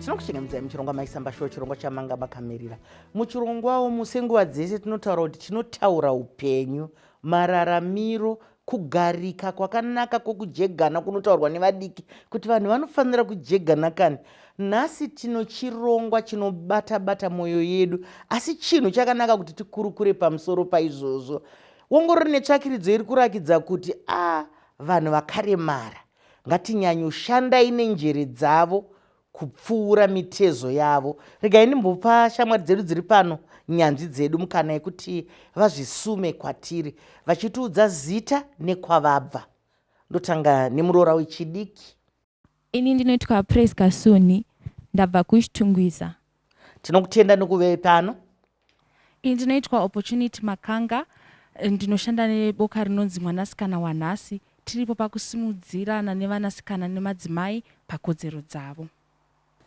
tinokuchengemudzai muchirongwa maisamba shuwa chirongwa chamanga makamirira muchirongwawo musenguva dzese tinotaura kuti chinotaura upenyu mararamiro Kugarika kwakanaka kwokujegana kunotaurwa nevadiki kuti vanhu vanofanira kujegana kani. Nhasi tino chirongwa chinobata-bata mwoyo yedu, asi chinhu chakanaka kuti tikurukure pamusoro paizvozvo. Wongorori netsvakiridzo iri kurakidza kuti a vanhu vakaremara ngatinyanyoshandai nenjere dzavo kupfuura mitezo yavo. Regai ndimbopa shamwari dzedu dziri pano, nyanzvi dzedu, mukana yekuti vazvisume kwatiri vachitiudza zita nekwavabva. Ndotanga nemuroora wechidiki. Ini ndinoitwa Praise Kasuni, ndabva kuChitungwiza. Tinokutenda nekuve pano. Ini ndinoitwa Opportunity Makanga ndinoshanda neboka rinonzi Mwanasikana Wanhasi. Tiripo pakusimudzirana nevanasikana nemadzimai pakodzero dzavo.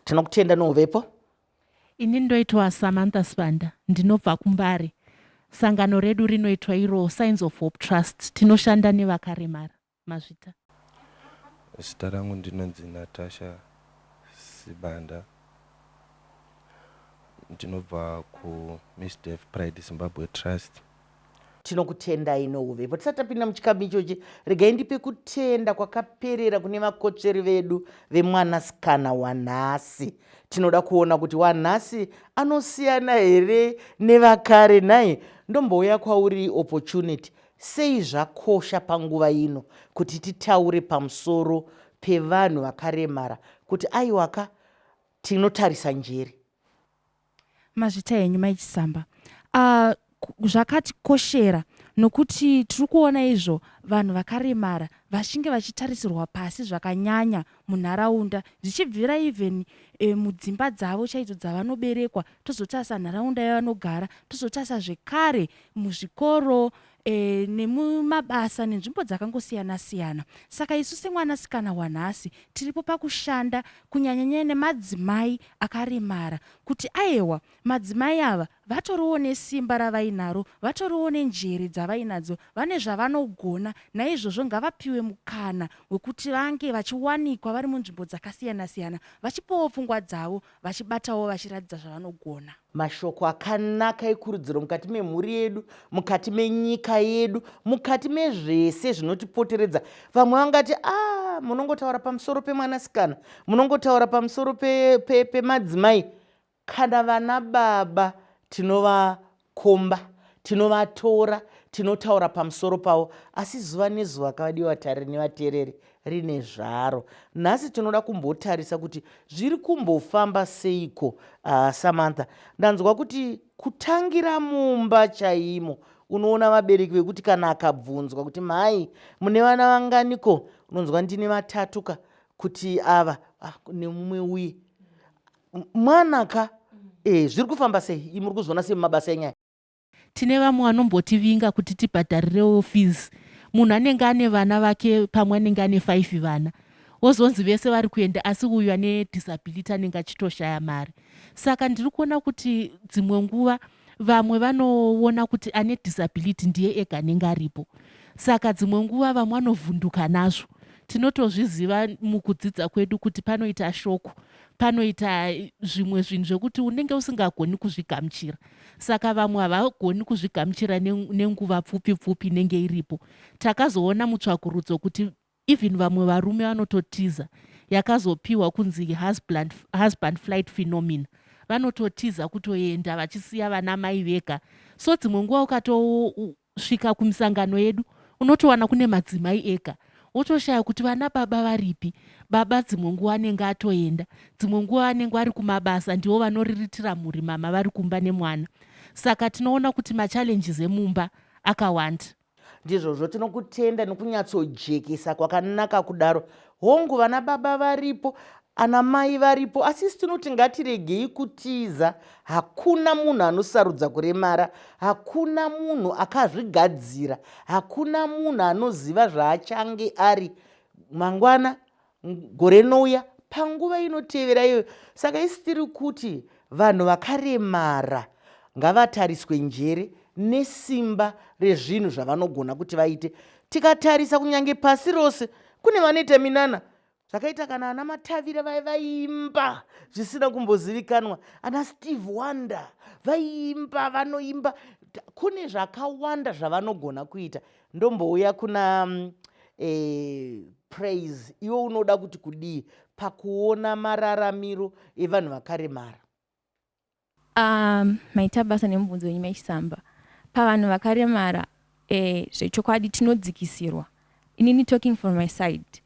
Tinokutenda nouvepo. Ini ndoitwa Samantha Sibanda ndinobva kuMbare. Sangano redu rinoitwa iro Signs of Hope Trust. Tinoshanda nevakaremara. Mazvita. Zita rangu ndinonzi Natasha Sibanda. Ndinobva kuMisdef Pride Zimbabwe Trust. Tinokutendai nouvepo. Tisati tapinda muchikamu ichochi, regai ndipe kutenda kwakaperera kune vakotsveri vedu vemwanasikana wanhasi. Tinoda kuona kuti wanhasi anosiyana here nevakare nhai? Ndombouya kwauri Opportunity. Sei zvakosha panguva ino kuti titaure pamusoro pevanhu vakaremara kuti aiwaka tinotarisa njere? Mazvita henyu mai Chisamba. Uh, zvakatikoshera nokuti tiri kuona izvo vanhu vakaremara vachinge vachitarisirwa pasi zvakanyanya munharaunda zvichibvira even e, mudzimba dzavo chaidzo dzavanoberekwa tozotarisa nharaunda yavanogara tozotarisa zvekare muzvikoro e, nemumabasa nenzvimbo dzakangosiyana siyana saka isu semwanasikana wanhasi tiripo pakushanda kunyanyanyaya nemadzimai akaremara kuti ayewa Madzimai ava vatoriwo nesimba ravainaro, vatoriwo nenjere dzavainadzo, vane zvavanogona naizvozvo ngavapiwe mukana wekuti vange vachiwanikwa vari munzvimbo dzakasiyana siyana vachipawo pfungwa dzavo vachibatawo vachiratidza zvavanogona. Mashoko akanaka ekurudziro mukati memhuri yedu, mukati menyika yedu, mukati mezvese zvinotipoteredza. Vamwe vangati ah, munongotaura pamusoro pemwanasikana, munongotaura pamusoro pemadzimai pe, pe Kana vana baba tinovakomba, tinovatora, tinotaura pamusoro pavo, asi zuva nezuva kavadi vatariri nevateereri rine zvaro. Nhasi tinoda kumbotarisa kuti zviri kumbofamba seiko. Uh, Samantha, ndanzwa kuti kutangira mumba chaimo unoona vabereki vekuti kana akabvunzwa kuti mhai mune vana vanganiko unonzwa ndine vatatu ka kuti ava ah, nemumwe uye mwana ka eh, zviri kufamba sei muri kuzviona sei mumabasa enyaya tine vamwe vanombotivinga kuti tibhadharirewo fees munhu anenge ane vana vake pamwe anenge ane five vana wozonzi vese vari kuenda asi uyu ane disability anenge achitoshaya mari saka ndiri kuona kuti dzimwe nguva vamwe vanoona kuti ane disability ndiye ega anenge aripo saka dzimwe nguva vamwe vanovhunduka nazvo tinotozviziva mukudzidza kwedu kuti panoita shoko panoita zvimwe zvinhu zvekuti unenge usingagoni kuzvigamuchira saka vamwe havagoni kuzvigamuchira nenguva pfupi pfupi inenge iripo takazoona mutsvakurudzo kuti even vamwe varume vanototiza yakazopiwa kunzi husband, husband flight phenomena vanototiza kutoenda vachisiya vana mai vega so dzimwe nguva ukatoona Kusvika kumisangano yedu unotowana kune madzimai ega wotoshaya kuti vana baba varipi baba dzimwe nguva anenge atoenda dzimwe nguva anenge ari kumabasa ndivo vanoriritira mhuri mama vari kumba nemwana saka tinoona kuti machallenges emumba akawanda ndizvozvo tinokutenda nokunyatsojekesa kwakanaka kudaro Hongu vana baba varipo ana mai varipo asi isi tinoti ngatiregei kutiza hakuna munhu anosarudza kuremara hakuna munhu akazvigadzira hakuna munhu anoziva zvaachange ari mangwana gore rinouya panguva inotevera iyoyo saka isi tiri kuti vanhu vakaremara ngavatariswe njere nesimba rezvinhu zvavanogona kuti vaite tikatarisa kunyange pasi rose kune vanoita minana zvakaita kana ana matavira vai vaiimba zvisina kumbozivikanwa ana steve wonder vaiimba vanoimba kune zvakawanda zvavanogona kuita ndombouya kuna mm, eh, praise iwe unoda kuti kudii pakuona mararamiro evanhu vakaremara Umm maita basa nemubvunzo wenyu mai Chisamba. Pavanhu vakaremara eh zvechokwadi tinodzikisirwa. Inini talking from my side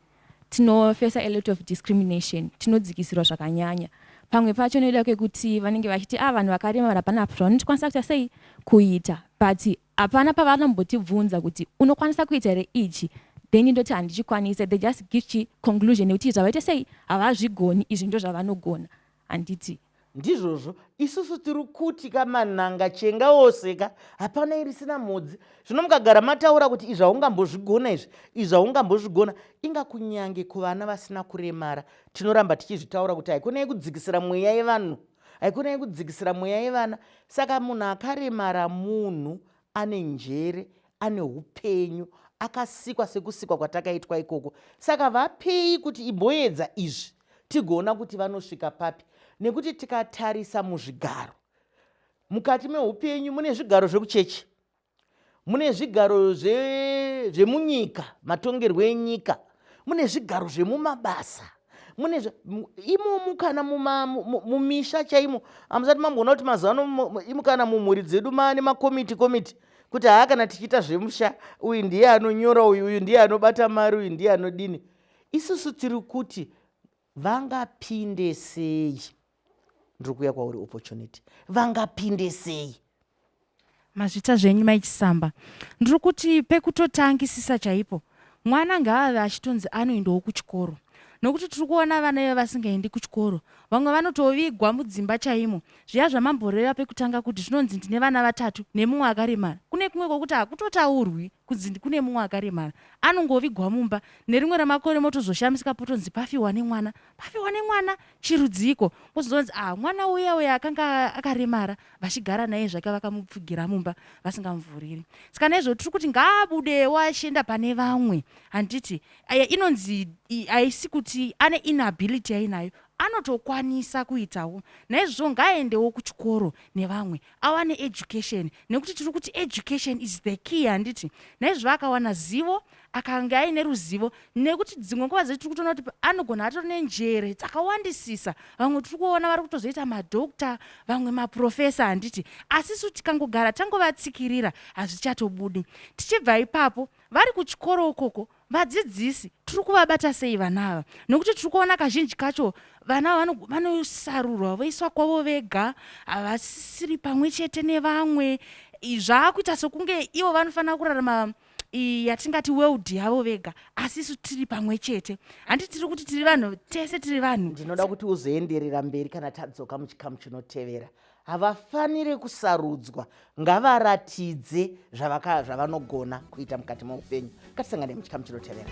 tinofesa a lot of discrimination tinodzikisirwa zvakanyanya. Pamwe pacho nekuda kwekuti vanenge vachiti ah vanhu vakaremara hapana apo zvavanokwanisa kuita sei kuita but hapana pavanombotibvunza kuti unokwanisa kuita here ichi then ndoti handichikwanise they just give chi conclusion yekuti zvavaita sei havazvigoni izvi ndozvavanogona handiti. ndizvozvo isusu tiri kuti ka mananga chenga wose ka hapana irisina mhodzi zvino mukagara mataura kuti izvi haungambozvigona izvi izvi haungambozvigona inga kunyange kuvana vasina kuremara tinoramba tichizvitaura kuti haikona yekudzikisira mweya yevanhu haikona yekudzikisira mweya yevana saka munhu akaremara munhu Ane njere, ane upenyu, akasikwa sekusikwa kwatakaitwa ikoko. Saka vapei kuti imboedza izvi tigoona kuti vanosvika papi, nekuti tikatarisa muzvigaro mukati meupenyu mune zvigaro zvekuchechi, mune zvigaro zvemunyika, matongerwo enyika, mune zvigaro zvemumabasa mune imomu kana mumisha chaimo hamusati mamboona kuti mazuva ano imu kana mumhuri dzedu maane makomiti komiti kuti haa kana tichiita zvemusha uyu ndiye anonyora uyu uyu ndiye anobata mari uyu ndiye anodini isusu tiri kuti vangapinde sei ndiri kuuya kwauri opportunity vangapinde sei mazvita zvenyu maichisamba ndiri kuti pekutotangisisa chaipo mwana ngaave achitonzi anoendawo kuchikoro nokuti tiri kuona vana ive vasingaendi kuchikoro vamwe vanotovigwa mudzimba chaimo zviya zvamamboreva pekutanga kuti zvinonzi ndine vana vatatu nemumwe akaremara kune kumwe kwokuti hakutotaurwi kunzi kune mumwe akaremara anongovigwa mumba nerimwe ramakore motozoshamisika potonzi pafiwa nemwana pafiwa nemwana chirudziiko mozozonzi ah mwana uya uya akanga akaremara vachigara naye zvake vakamupfugira mumba vasingamuvhuriri saka naizvo tiri kuti ngaabudewo achienda pane vamwe handiti aya inonzi haisi kuti ane inability yainayo anotokwanisa kuitawo naizvozvo ngaaendewo kuchikoro nevamwe awane education nekuti tiri kuti education is the key handiti naizvo akawana zivo akange aine ruzivo nekuti dzimwe nguva dzei tiri kutoona kuti anogona atori nenjere dzakawandisisa vamwe tiri kuona vari kutozoita madokta vamwe maprofesa handiti asi su tikangogara tangovatsikirira hazvichatobudi tichibva ipapo vari kuchikoro ukoko Vadzidzisi tiri kuvabata sei vana ava nokuti tiri kuona kazhinji kacho vana ava vanosarurwa voiswa kwavo vega havasisiri pamwe chete nevamwe zvaakuita sokunge ivo vanofanira kurarama yatingati world yavo vega asi isu tiri pamwe chete handi tiri kuti tiri vanhu tese tiri vanhu ndinoda kuti uzoenderera mberi kana tadzoka muchikamu chinotevera havafanire kusarudzwa ngavaratidze zvavanogona kuita mukati meupenyu katisangane muchikamu chinotevera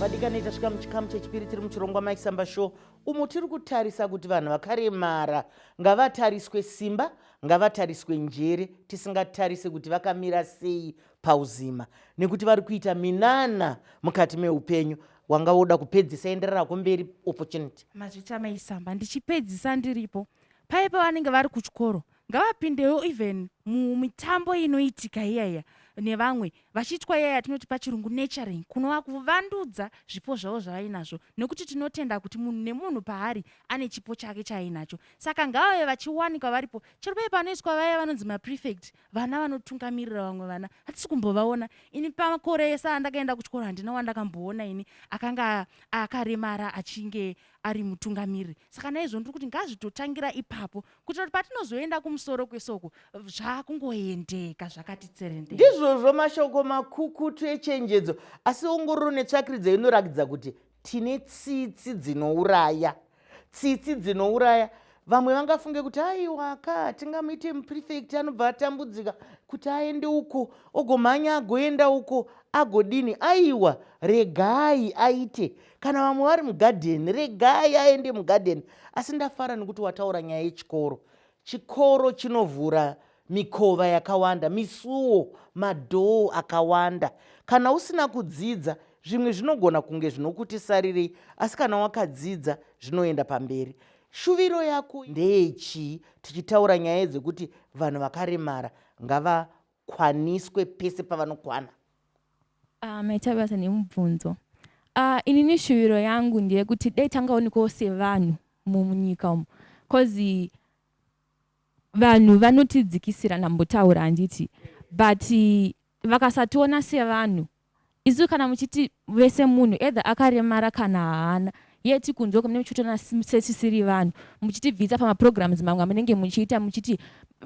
vadikani tasvika muchikamu chechipiri tiri muchirongwa mike samba show umo tiri kutarisa kuti vanhu vakaremara ngavatariswe simba ngavatariswe njere tisingatarise kuti vakamira sei pauzima nekuti vari kuita minana mukati meupenyu wanga woda kupedzisa enderera kumberi opportunity mazvita maisamba ndichipedzisa ndiripo paye pavanenge vari kuchikoro ngavapindewo even mumitambo inoitika iyaya nevamwe vachiitwa iyaya yatinoti pachirungu naturing kunova kuvandudza zvipo zvavo zvavainazvo nekuti tinotenda kuti munhu nemunhu paari ane chipo chake chaainacho saka ngavave vachiwanikwa varipo chero paye panoiswa vaya vanonzi maprefect vana vanotungamirira vamwe vana hatisi kumbovaona ini pamakore ese andakaenda kuchikoro handina wandakamboona ini akanga akaremara achinge ari mutungamiriri saka naizvo ndiri kuti ngazvitotangira ipapo kuitira kuti patinozoenda kumusoro kwesoko zvakungoendeka zvakati tserendeka ndizvozvo mashoko makukutu echenjedzo asi ongororo netsvakiridzo inorakidza kuti tine tsitsi dzinouraya tsitsi dzinouraya vamwe vangafunge kuti aiwa ka tingamuite muprefect anobva atambudzika kuti aende uko ogomhanya agoenda uko agodini aiwa regai aite kana vamwe vari mugadheni regai aende mugadheni asi ndafara nekuti wataura nyaya yechikoro chikoro chinovhura mikova yakawanda misuwo madhoo akawanda kana usina kudzidza zvimwe zvinogona kunge zvinokuti sarirei asi kana wakadzidza zvinoenda pamberi shuviro yako ndeyechii tichitaura nyaya dzekuti vanhu vakaremara ngavakwaniswe pese pavanokwana Ah mai Tabasa nemubvunzo. Ah inini shuviro yangu ndeyekuti dai tangaonekwawo sevanhu munyika umu cause vanhu vanotidzikisira ndambotaura handiti but vakasationa sevanhu isu kana muchiti vese munhu either akaremara kana haana yeti kunzwa kumene muchitoona setisiri vanhu muchitibvisa pamaprograms mamwe amunenge muchiita muchiti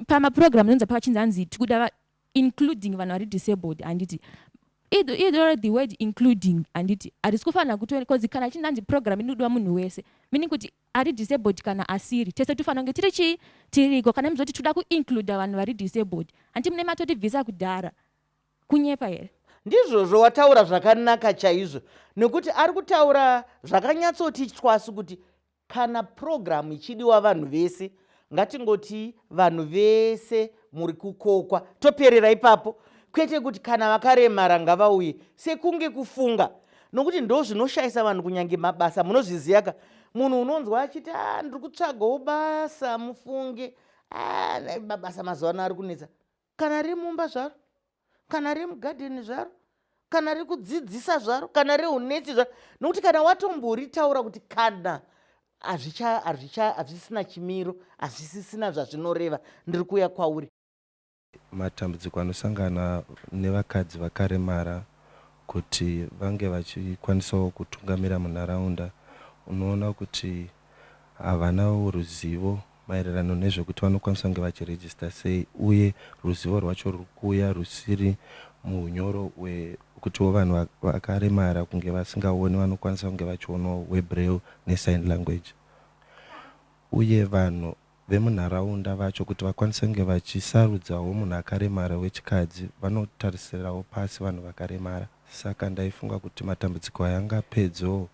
pamaprograms anonzi pachinzi anzi tikuda including vanhu vari disabled handiti either the word including handiti harisi kufanira kuto because kana chinhu hanzi program inodiwa munhu wese meaning kuti ari disabled kana asiri tese tofanira kunge tiri chii tiriko kana mizoti toda kuincluda vanhu vari disabled handiti mune matotibvisa kudhara kunyepa here ndizvozvo wataura zvakanaka chaizvo nekuti ari kutaura zvakanyatsoti chwasu kuti Kana purogiramu ichidiwa vanhu vese, ngatingoti vanhu vese muri kukokwa, toperera ipapo, kwete kuti kana vakaremara ngavauye sekunge kufunga, nokuti ndo zvinoshayisa vanhu kunyange mabasa. Munozviziva ka, munhu unonzwa achiti a ah, ndiri kutsvagawo basa, mufunge a ah, mabasa mazuva ano ari kunetsa. kana riri mumba zvaro kana riri mugadheni zvaro kana riri kudzidzisa zvaro kana riri unetsi zvaro nokuti kana watomboritaura kuti kana hazvisisina chimiro hazvisisina zvazvinoreva ndiri kuuya kwauri matambudziko anosangana nevakadzi vakaremara kuti vange vachikwanisawo kutungamira munharaunda unoona kuti havanawo ruzivo maererano nezvekuti vanokwanisa kunge vachiregister sei uye ruzivo rwacho ruri kuuya rusiri muhunyoro hwekutiwo vanhu vakaremara kunge vasingaoni vanokwanisa kunge vachionawo hweBraille neSign Language uye vanhu vemunharaunda vacho kuti vakwanise kunge vachisarudzawo munhu akaremara wechikadzi vanotarisirawo pasi vanhu vakaremara saka ndaifunga kuti matambudziko aya angapedzwewo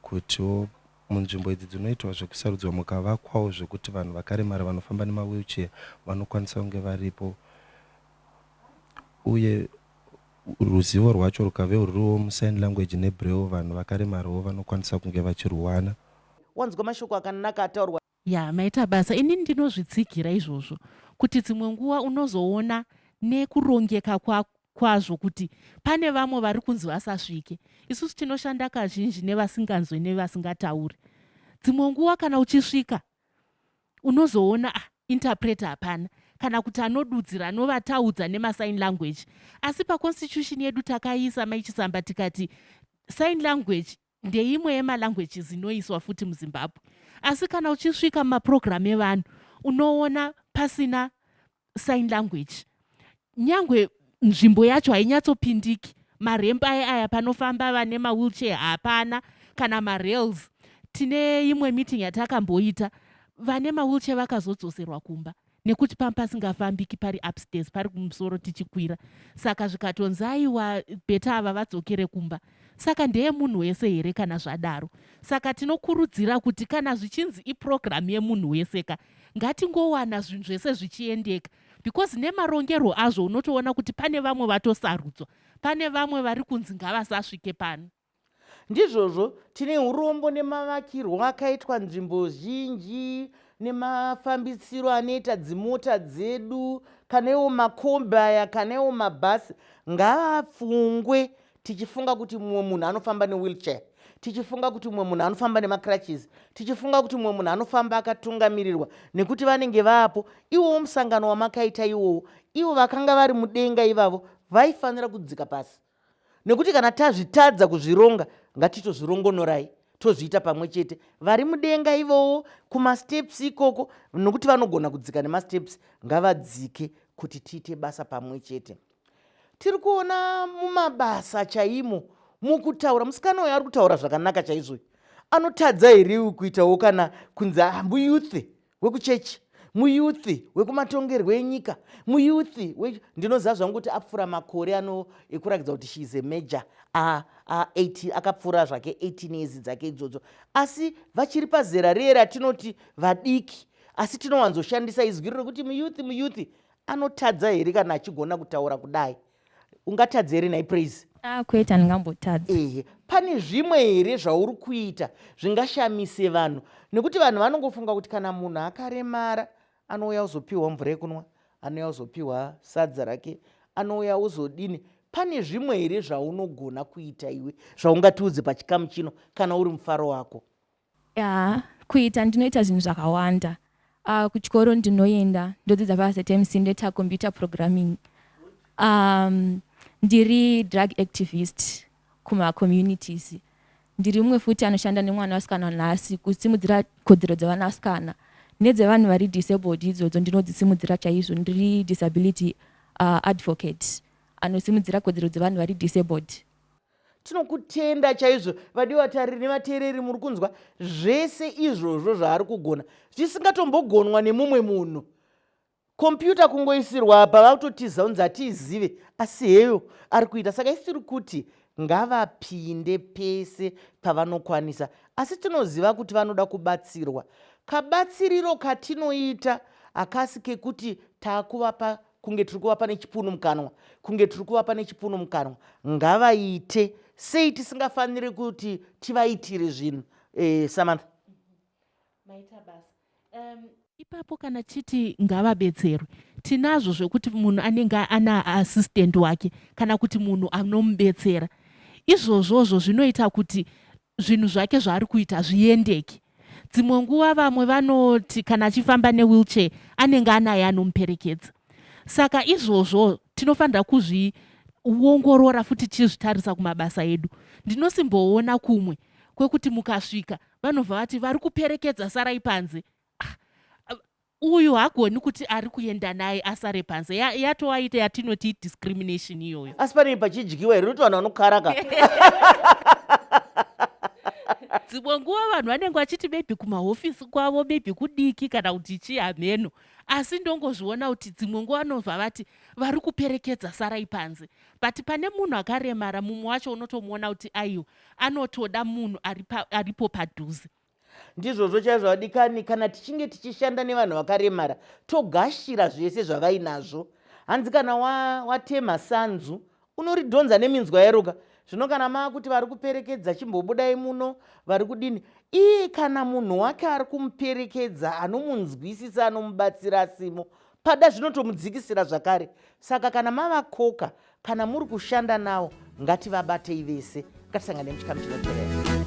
kutiwo Munzvimbo idzi dzinoitwa zvekusarudzwa mukavakwawo zvekuti vanhu vakaremara vanofamba nemawheelchair vanokwanisa kunge varipo uye ruzivo rwacho rukave ruriwo musign language nebraille vanhu vakaremarawo vanokwanisa kunge vachirwuwana. Wanzwa mashoko akanaka ataurwa. Yaa maita basa ini ndinozvitsigira izvozvo kuti dzimwe nguva unozoona nekurongeka kwa kwazvo kuti pane vamwe vari kunzi vasasvike isusu tinoshanda kazhinji nevasinganzwe nevasingatauri dzimwe nguva kana uchisvika unozoona ah, interpreter hapana kana kuti anodudzira anovataudza nemasign language asi paconstitution yedu takaisa maichisamba tikati sign language ndeimwe yemalanguages inoiswa futi muzimbabwe asi kana uchisvika mumaprogramu evanhu unoona pasina sign language nyangwe nzvimbo yacho hainyatsopindiki maremp aye aya panofamba vane mawheelchair hapana kana marails tine imwe meeting yatakamboita vane mawheelchair vakazodzoserwa kumba nekuti panga pasingafambiki pari upstairs pari kumusoro tichikwira saka zvikatonzi aiwa beta ava vadzokere kumba saka ndeye munhu wese here kana zvadaro saka tinokurudzira kuti kana zvichinzi iprogramu yemunhu wese ka ngatingowana zvinhu zvese zvichiendeka because nemarongerwo azvo unotoona kuti pane vamwe vatosarudzwa pane vamwe vari kunzi ngavasasvike pano Ndizvozvo, tine urombo nemavakirwo akaitwa nzvimbo zhinji nemafambisiro anoita dzimota dzedu kana iwo makombi aya kana iwo mabhasi ngaapfungwe tichifunga kuti mumwe munhu anofamba newheelchair tichifunga kuti mumwe munhu anofamba nemacrutches tichifunga kuti mumwe munhu anofamba akatungamirirwa nekuti vanenge vaapo iwowo musangano wamakaita iwowo ivo vakanga vari mudenga ivavo vaifanira kudzika pasi nekuti kana tazvitadza kuzvironga ngatitozvirongonorai tozviita pamwe chete vari mudenga ivowo kumasteps ikoko nokuti vanogona kudzika nemasteps ngavadzike kuti tiite basa pamwe chete tiri kuona mumabasa chaimo mukutaura musikana uyo ari kutaura zvakanaka chaizvoyo anotadza here kuitawo kana kunzi hambu ah, youth wekuchechi muyuthi wekumatongerwo enyika muyuthi ndinoziva zvangu kuti apfuura makore ano ekurakidza kuti sheis a major akapfuura zvake 18 years dzake idzodzo asi vachiri pazera riye ratinoti vadiki asi tinowanzoshandisa izwi rekuti muyuthi muyuthi anotadza here kana achigona kutaura kudai ungatadze here nhai praise ah, kwete handingambotadze ehe pane zvimwe here zvauri kuita zvingashamise vanhu nekuti vanhu vanongofunga kuti kana munhu akaremara anouya uzopiwa mvura yekunwa anouya uzopiwa sadza rake anouya uzodini pane zvimwe here zvaunogona kuita iwe zvaungatiudze pachikamu chino kana uri mufaro wako Yaa kuita ndinoita zvinhu zvakawanda uh, kuchikoro ndinoenda ndodzidza paZMC ndoita computer programming um, ndiri drug activist kumacommunities ndiri mumwe futi anoshanda nemwana wasikana nhasi kusimudzira kodzero dzevana vasikana nedzevanhu vari disabled idzodzo ndinodzisimudzira chaizvo ndiri disability uh, advocate anosimudzira kodzero dzevanhu vari disabled tinokutenda chaizvo vadiwa vatariri nevateereri muri kunzwa zvese izvozvo zvaari kugona zvisingatombogonwa nemumwe munhu kompyuta kungoisirwa apa vakutotiza kunzi hatiizive asi heyo ari kuita saka isi tiri kuti ngavapinde pese pavanokwanisa asi tinoziva kuti vanoda kubatsirwa kabatsiriro katinoita hakasi kekuti takuvapa kunge tiri kuvapa nechipunu mukanwa kunge tiri kuvapa nechipunu mukanwa ngavaite sei tisingafaniri kuti tivaitire zvinhu eh, samantha maita basa um, ipapo kana chiti ngavabetserwe tinazvo zvekuti munhu anenge ana assistant wake kana kuti munhu anomubetsera izvozvozvo zvinoita kuti zvinhu zvake zvaari kuita zviendeke Dzimwe nguva vamwe vanoti kana achifamba newheelchair anenge anaye anomuperekedza. Saka izvozvo tinofanira kuzviongorora futi tichizvitarisa kumabasa edu. Ndinosimboona kumwe kwekuti mukasvika vanobva vati vari kuperekedza sarai panze. Ah, Uyu hagoni kuti ari kuenda naye asare panze. Ya, yatoaita yatinoti idiscrimination iyoyo. Asi panei pachidyiwa here nekuti vanhu vanokara ka. dzimwe nguva vanhu vanenge vachiti maybe kumahofisi kwavo maybe kudiki kana kuti chii hameno asi ndongozviona kuti dzimwe nguva vanobva vati vari kuperekedza sarai panze but pane munhu akaremara mumwe wacho unotomuona kuti aiwa anotoda munhu aripo padhuze ndizvozvo chaizvo vadikani kana tichinge tichishanda nevanhu vakaremara togashira zvese zvavainazvo hanzi kana watema wa sanzu unoridhonza neminzwa yaroka zvino kana maa kuti vari kuperekedza chimbobudai muno vari kudini iye kana munhu wake ari kumuperekedza anomunzwisisa anomubatsira asimo pada zvinotomudzikisira zvakare saka kana mavakoka kana muri kushanda nawo ngativabatei vese ngatisangane muchikamu chinoterera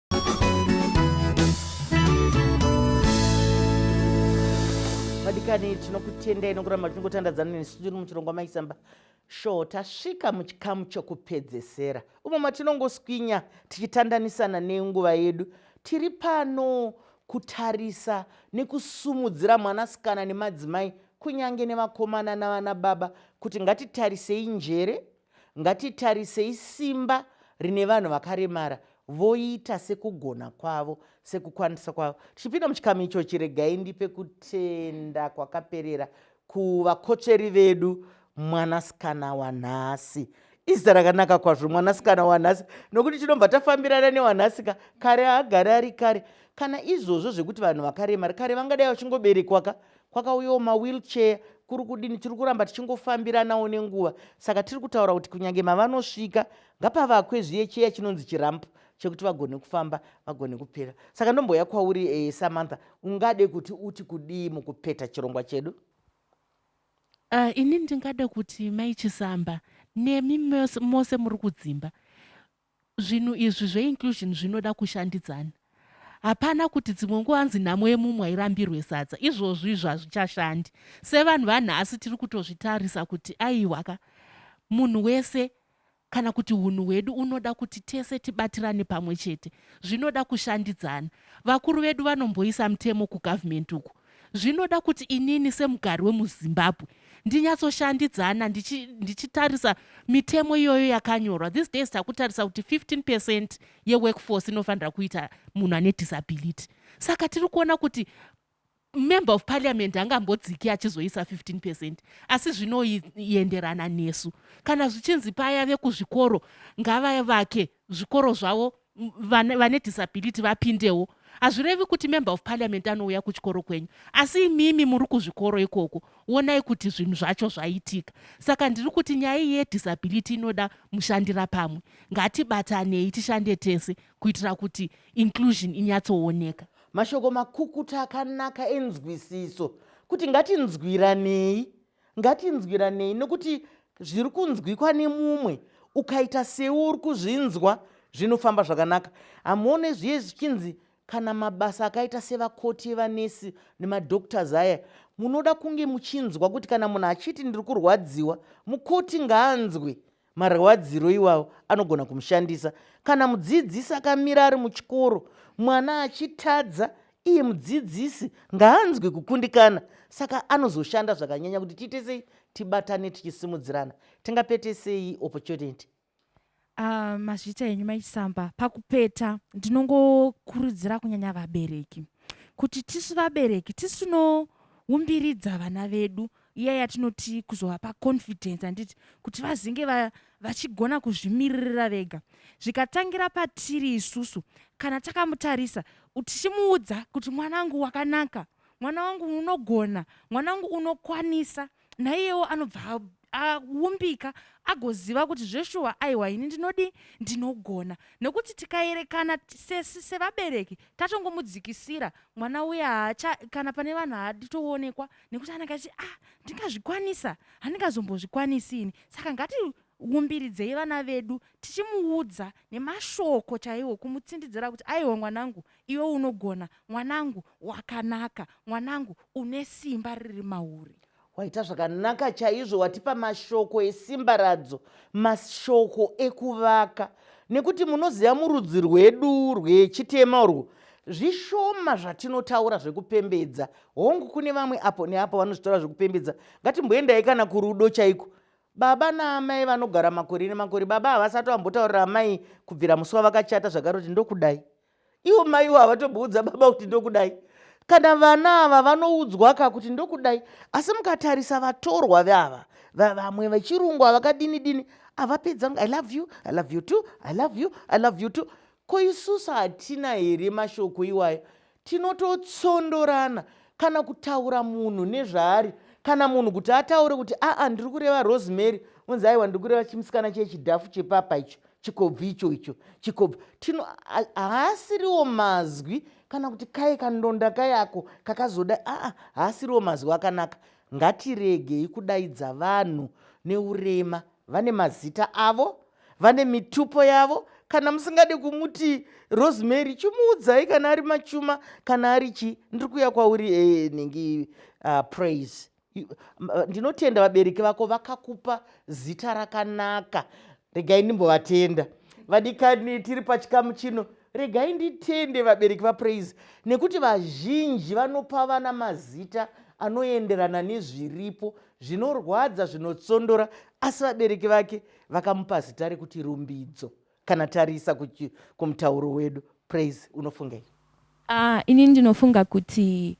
vadikani tinokutendai nokuramba tichingotandadzana nesu tiri muchirongwa maisamba sho tasvika muchikamu chokupedzesera umo matinongoswinya tichitandanisana nenguva yedu tiri pano kutarisa nekusumudzira mwanasikana nemadzimai kunyange nevakomana navana baba kuti ngatitarisei njere Ngatitarisei simba rine vanhu vakaremara voita sekugona kwavo sekukwanisa kwavo tichipinda muchikamu ichochi regai ndipe kutenda kwakaperera kuvakotsveri vedu mwanasikana wanhasi izita rakanaka kwazvo mwanasikana wanhasi nokuti tinobva tafambirana newanhasika kare agare ari kare kana izvozvo zvekuti vanhu vakaremara kare vangadai vachingoberekwaka kwakauyawo mawheelchair kuri kudini tiri kuramba tichingofambiranawo nenguva saka tiri kutaura kuti kunyange mavanosvika ngapavakwe zviye cheya chinonzi chirampu chekuti vagone kufamba vagone kupera saka ndomboya kwauri e, samantha ungade kuti uti kudii mukupeta chirongwa chedu uh, ini ndingada kuti mai chisamba nemi mose muri kudzimba Zvinhu izvi zve inclusion zvinoda kushandidzana. Hapana kuti dzimwe nguva hanzi nhamo yemumwe hairambirwe sadza. Izvozvo izvo hazvichashandi. Sevanhu vanhasi tiri kutozvitarisa kuti aiwa ka, munhu wese kana kuti hunhu hwedu unoda kuti tese tibatirane pamwe chete. Zvinoda kushandidzana. Vakuru vedu vanomboisa mutemo kugovernment uku Zvinoda kuti inini semugari wemuZimbabwe ndinyatsoshandidzana ndichi, ndichitarisa mitemo iyoyo yakanyorwa. These days takutarisa kuti 15 percent yeworkforce inofanira kuita munhu ane disability. Saka tiri kuona kuti member of parliament angambodziki achizoisa 15 percent asi zvinoenderana nesu kana zvichinzi paya vekuzvikoro ngavavake zvikoro zvavo vane, vane disability vapindewo hazvirevi kuti member of parliament anouya kuchikoro kwenyu asi imimi muri kuzvikoro ikoko wonai kuti zvinhu zvacho zvaitika saka ndiri kuti nyaya iyi yedisability inoda mushandira pamwe ngatibatanei tishande tese kuitira kuti inclusion inyatsooneka mashoko makukuta akanaka enzwisiso kuti ngatinzwiranei ngatinzwiranei nokuti zviri kunzwikwa nemumwe ukaita sewe uri kuzvinzwa zvinofamba zvakanaka hamuone zviye zvichinzi kana mabasa akaita sevakoti evanesi nemadoctors aya munoda kunge muchinzwa kuti kana munhu achiti ndiri kurwadziwa mukoti ngaanzwe Marwadziro iwawo anogona kumushandisa kana mudzidzisi akamira ari muchikoro mwana achitadza iye mudzidzisi ngaanzwe kukundikana saka anozoshanda zvakanyanya kuti tiite sei tibatane tichisimudzirana tingapete sei opportunity ah, mazvita enyu maisamba pakupeta ndinongokurudzira kunyanya vabereki kuti tisu vabereki tisinoumbiridza vana vedu iya yatinoti kuzovapa confidence handiti kuti vazinge vachigona va kuzvimiririra vega zvikatangira patiri isusu kana takamutarisa tichimuudza kuti mwana wangu wakanaka mwana wangu unogona mwana wangu unokwanisa naiyewo anobva aumbika agoziva kuti zveshuwa aiwa ini ndinodii ndinogona nekuti tikaerekana sesi sevabereki tatongomudzikisira mwana uya haacha kana pane vanhu haadi toonekwa nekuti anenge achi ah ndingazvikwanisa handingazombozvikwanisi ini saka ngati umbiridzei vana vedu tichimuudza nemashoko chaiwo kumutsindidzira kuti aiwa mwanangu iwe unogona mwanangu wakanaka mwanangu une simba riri mauri waita zvakanaka chaizvo watipa mashoko esimba radzo mashoko ekuvaka nekuti munoziva murudzi rwedu rwechitema urwo zvishoma zvatinotaura zvekupembedza hongu kune vamwe apo neapo vanozvitaura zvekupembedza ngatimboendai kana kurudo chaiko baba naamai vanogara makore nemakore baba havasati vambotaurira amai kubvira musi wavakachata zvakaroti ndokudai ivo maiwo havatomboudza baba kuti ndokudai kana vana ava vanoudzwa ka kuti ndokudai asi mukatarisa vatorwa veava vamwe vechirungu avakadini dini avapedza i love you i love you too i love you i love you too ko isusu hatina here mashoko iwayo Tinototsondorana kana kutaura munhu nezvaari kana munhu kuti ataure kuti aa ndiri kureva rosemary unzi aiwa ndiri kureva chimusikana chiye chidhafu chepapa icho chikobvi icho icho chikobvi tino haasiriwo mazwi kana kuti kaye kandonda kayako kakazoda aa haasiriwo mazwi akanaka ngatiregei kudaidza vanhu neurema vane mazita avo vane mitupo yavo kana musingade kumuti rosemary chimuudzai kana ari machuma kana ari chi ndiri kuya kwauri eh, nhingi uh, praise ndinotenda vabereki vako vakakupa zita rakanaka regai ndimbovatenda vadikani tiri pachikamu chino regai nditende vabereki vapraise nekuti vazhinji vanopa vana mazita anoenderana nezviripo zvinorwadza zvinotsondora asi vabereki vake vakamupa zita rekuti rumbidzo kana tarisa kumutauro wedu praise unofungei uh, ini ndinofunga kuti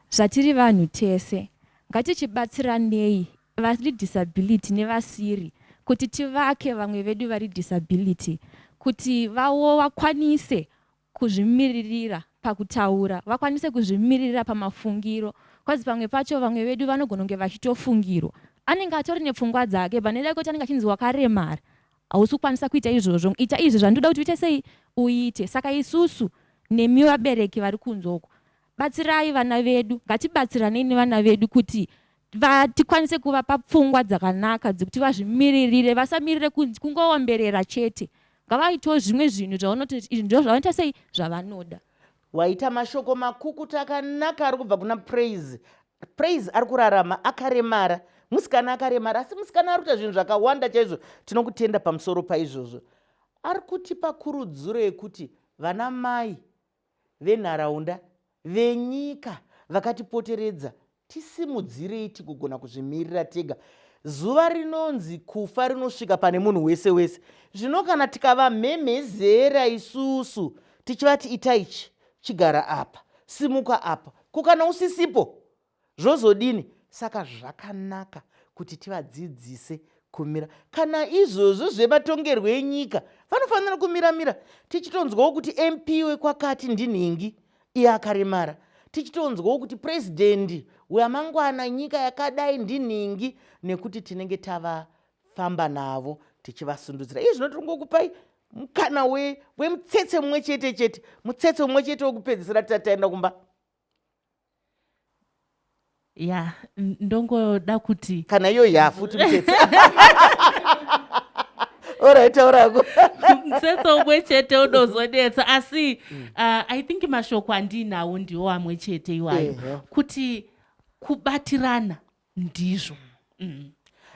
zvatiri vanhu tese ngatichibatsiranei vari disability nevasiri kuti tivake vamwe vedu vari disability kuti vawo vakwanise kuzvimiririra pakutaura, vakwanise kuzvimiririra pamafungiro coz pamwe pacho vamwe vedu vanogona kunge vachitofungirwa anenge atori nepfungwa dzake but nekuda kwekuti anenge achinzi wakaremara hausi kukwanisa kuita izvozvo ita izvi zvandoda kuti uite sei uite saka isusu nemi vabereki vari kunze uko Batsirai vana vedu, ngatibatsiranei nevana vedu kuti tikwanise kuvapa pfungwa dzakanaka dzekuti vazvimiririre, vasamirire kunzi kungoomberera chete. Ngavaitewo zvimwe zvinhu zvaunoti izvi ndizvo zvavanoita sei zvavanoda. Waita mashoko makukuta akanaka ari kubva kuna Praise. Praise ari kurarama akaremara, musikana akaremara, asi musikana ari kuita zvinhu zvakawanda chaizvo. Tinokutenda pamusoro paizvozvo. Ari kutipa kurudziro yekuti vana mai venharaunda, venyika vakatipoteredza tisimudzirei tigogona kuzvimirira tega. Zuva rinonzi kufa rinosvika pane munhu wese wese. Zvino kana tikavamhemhezera isusu tichivati ita ichi, chigara apa, simuka apa, ko kana usisipo zvozodini saka zvakanaka kuti tivadzidzise kumira kana izvozvo zvematongerwo enyika vanofanira kumiramira tichitonzwawo kuti mp wekwakati ndinhingi iye akaremara tichitonzwawo kuti purezidendi wamangwana nyika yakadai ndinhingi nekuti tinenge tavafamba navo tichivasundudzira izvi zvinotongokupai mukana wemutsetse mumwe chete chete mutsetse mumwe chete wekupedzisira tataenda kumba ya ndongoda kuti kana iyo yafuti mutete oraitaurako mutsetso umwe chete unozonetsa asi mm. uh, i think mashoko andiinawo ndiwo amwe chete iwayo kuti kubatirana ndizvo mm.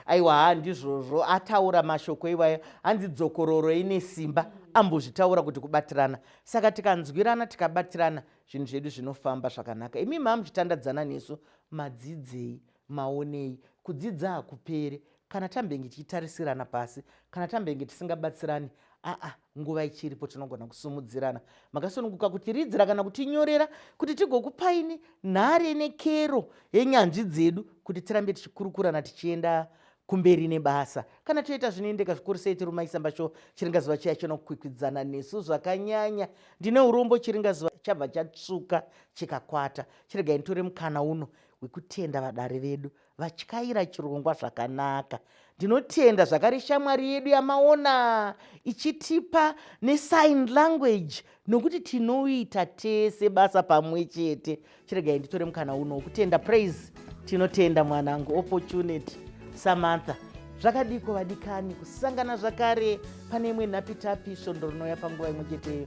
aiwa haa ndizvozvo ataura mashoko iwayo hanzi dzokororo ine simba ambozvitaura kuti kubatirana saka tikanzwirana tikabatirana zvinhu zvedu zvinofamba zvakanaka imi maa muchitandadzana nesu madzidzei maonei kudzidza hakupere kana tambenge tichitarisirana pasi kana tambenge tisingabatsirani aa nguva ichiripo tinogona kusumudzirana makasununguka kutiridzira kana kutinyorera kuti tigokupaini nhare nekero yenyanzvi dzedu kuti tirambe tichikurukurana tichienda kumberi nebasa kana toita zvinoendeka zvikuru sei tirumaisamba sho chiringazuva chiya chinokwikwidzana nesu zvakanyanya ndine urombo chiringazuva chabva chatsvuka chikakwata chiregai nditore mukana uno wekutenda vadare vedu vatyaira chirongwa zvakanaka ndinotenda zvakare shamwari yedu yamaona ichitipa nesign language nokuti tinoita tese basa pamwe chete chiregai nditore mukana uno wokutenda praise tinotenda mwanangu opportunity samantha zvakadiko vadikani kusangana zvakare pane imwe nhapitapi svondo rinouya panguva imwe cheteyo